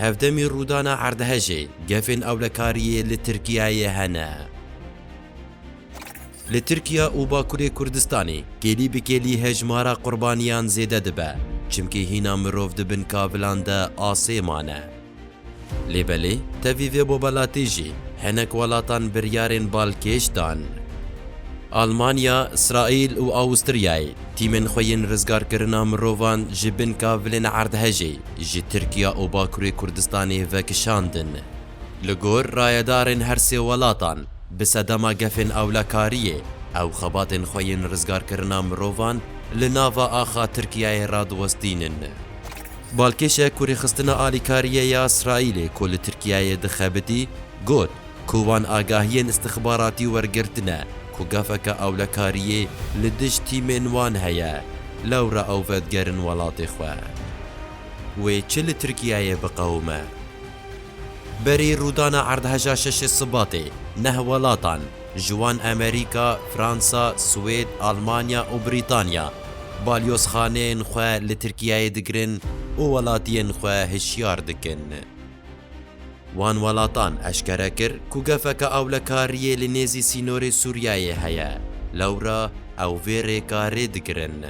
Hevdemî rûdana erdhejê, gefên ewlekariyê li Tirkiyeyê hene. Li Tirkiye û Bakurê Kurdistanê kêlî bi kêlî hejmara qurbaniyan zêde dibe, çimkî hîna mirov di bin kavilan de asê mane. Lê belê tevî vê bobelatî jî hinek welatan biryarên balkêş dan. Almanya, Îsraîl û Awûstriyayê tîmên xwe yên rizgarkirina mirovan ji binka vilên erdhejê ji Tirkiya û Bakurê Kurdistanê vekişandin. Li gor rayedarên her sê welatan, bi sedema gefên ewlekariyê ew xebatên xwe yên rizgarkirina mirovan li nava axa Tirkiyayê radiwestînin. Balkêşek ku rêxistina alîkariyê ya Îsraîlê ku li Tirkiyeyê dixebitî, got ku wan agahiyên îstixbaratî wergirtine ku gafeke ewlekariyê li dij tîmên wan heye, lewra ew vedigerin welatê xwe. Wê çi li Tirkiyeyê biqewime? Berî rûdana erdheja şeşê Sibatê, neh welatan, ji wan Amerîka, Fransa, Swêd, Almanya û Brîtanya, balyozxaneyên xwe li Tirkiyeyê digirin û welatiyên xwe hişyar dikin. Wan welatan eşkere kir ku gefeke ewlekariyê li nêzî sînorê Sûriyeyê heye, lewra ew vê rêka rê digirin.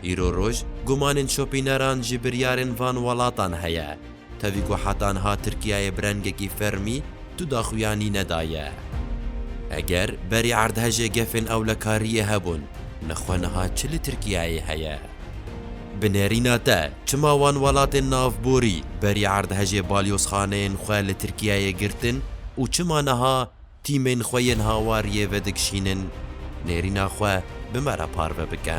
Îro roj gumanên şopîneran ji biryarên van welatan heye. Tevî ku heta niha Tirkiyeyê bi rengekî fermî tu daxuyanî nedaye. Eger berî erdhejê gefên ewlekariyê hebûn, nixwe niha çi li Tirkiyeyê heye? Bi nêrîna te çima wan welatên navborî berî erdhejê balyozxaneyên xwe li Tirkiyeyê girtin û çima niha Tîmên xwe yên hawariyê vedikişînin, nêrîna xwe bi me re parve bike.